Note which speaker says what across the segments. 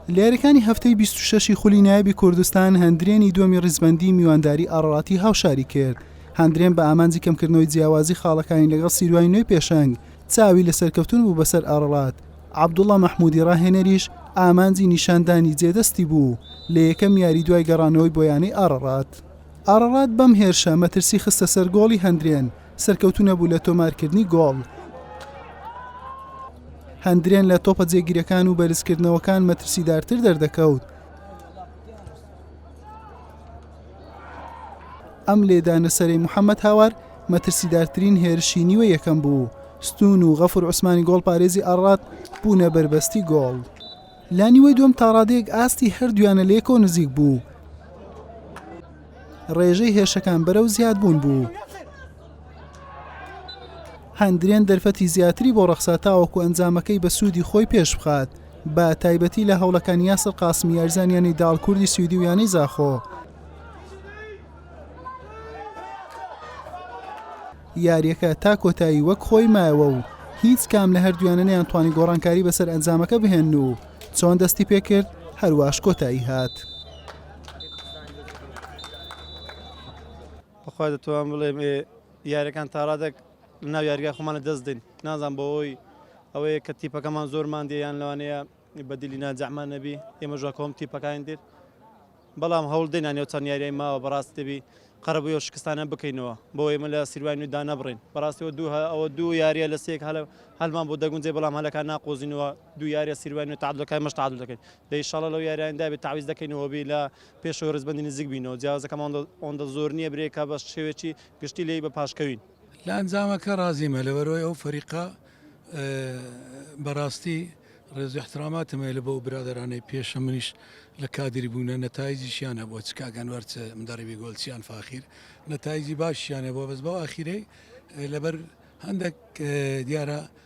Speaker 1: لەیاریەکانی هەفتەی بیست و شەشی خولی نایبی کوردستان هەندرێنی دووەمی ڕیزبەندی میوانداری ئاڕاتی هاوشاری کرد هەندرێن بە ئامانجی کەمکردنەوەی جیاوازی خاڵەکانی لەگەڵ سیروای نوێ پێشنگ چاوی لە سەرکەوتن بوو بەسەر ئاڕڵات عبدوڵە مححمودی ڕاهێنەریش ئامانجی نیشاندانی جێدەستی بوو لە یەکەم یاری دوای گەڕانەوەی بۆیانەی ئاڕڕات ئاڕڕات بەم هێرشە مەترسی خستە سەر گۆڵی هەندرێن سەرکەوتوو نەبوو لە تۆمارکردنی گۆڵ. هەندرێن لە تۆپە جێگیرەکان و بەرزکردنەوەکان مەترسیدارتر دەردەکەوت. ئەم لێدانە سەرەی محەممەد هاوار مەترسیدارترین هێرشی نیوە یەکەم بوو. ستون و غەفور عوسمانی گۆڵپارێزی ئاڕات بوونە بەربەستی گۆڵ. لانیوەی دوم تاڕادەیەک ئاستی هەردویانە لەیەکەوە نزیک بوو. ڕێژەی هێرشەکان بەرەو زیادبوون بوو. هەندرێن دەرفەتی زیاتری بۆ ڕەخسا تاوەکو ئەنجامەکەی بە سوودی خۆی پێش بخات بە تایبەتی لە هەوڵەکان یاسر قاسمی یارزانیانی داڵ کوردی سویدی و یانەی زاخۆ یاریەکە تا کۆتایی وەک خۆی مایەوە و هیچ کام لە هەردویانە نیان توانی گۆڕانکاری بەسەر ئەنجامەکە بهێن و چۆن دەستی پێکرد هەرواش کۆتایی هات.
Speaker 2: بەخوا دەتوان بڵێم یاریەکان تاڕادێک ناو یاریگای خۆمانە دەست دەین نازان بەوەی ئەوەیە کە تیپەکەمان زۆرمان دیان لەوانەیە بەدیلی ناجەمان نەبی ئێمە ژاکۆم تیپەکان دێت بەڵام هەوڵ دێنان و چەند یاریای ماوە بەڕاست دەبی قەرەبووی و شکستانە بکەینەوە بۆ ئێمە لە سیروان و دانەبڕین بەڕاستەوە دوو ئەوە دوو یاریە لە سێک هەلە هەلمان بۆ دەگونجێ بەڵام هەلەکان ناقۆزینەوە دوو یاریە سیروان و تعادلەکەی مەش تعادل دەکەین دە ئیشاڵا لەو یاریانە دابێ تەعویز دەکەینەوە بی لە پێشەوەی ڕیزبەندی نزیک بینەوە جیاوازەکەمان ئەوەندە زۆر نییە برێکە بە شێوەیەکی گشتی لێی بە پاش کەوین. لە ئەنجامەکە
Speaker 3: ڕازیمە لەبەرئەوەی ئەو فەریقە بەڕاستی ڕێزو ئیحتراماتم هەیە لە بۆ برادەرانەی پێشە منیش لە کادری بوونە نەتایجیشیان هەبووە چ کاک ئەنوەر چ مدەڕیبی گۆل چ یان فاخیر نەتایجی باشیان هەبووە بەس بەو ئاخیرەی لەبەر هەندێک دیارە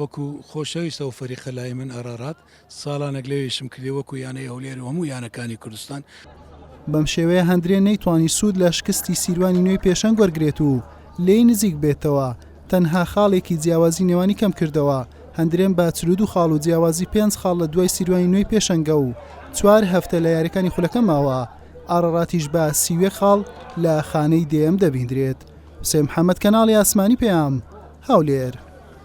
Speaker 3: وەکو خۆشەویستە و فەریقە لای من ئارارات ساڵانێک لەوێ ئیشم کردی وەکو یانەی هەولێر و هەموو یانەکانی کوردستان. بەم
Speaker 1: شێوەیە هەندرێ نەیتوانی سوود لە شکستی سیروانی نوێی پێشەنگ وەرگرێت و لێی نزیک بێتەوە، تەنها خاڵێکی جیاوازی نێوانی کەمکردەوە، هەندرێم بە چل و دوو خاڵ و جیاوازی پێنج خاڵ لە دوای سیروانی نوێی پێشەنگە و چوار هەفتە لە یارییەکانی خولەکە ماوە، ئاراراتیش بە سی و یەک خاڵ لە خانەی دەیەم دەبیندرێت. حوسێن محەمەد، کەناڵی ئاسمانی پەیام، هەولێر.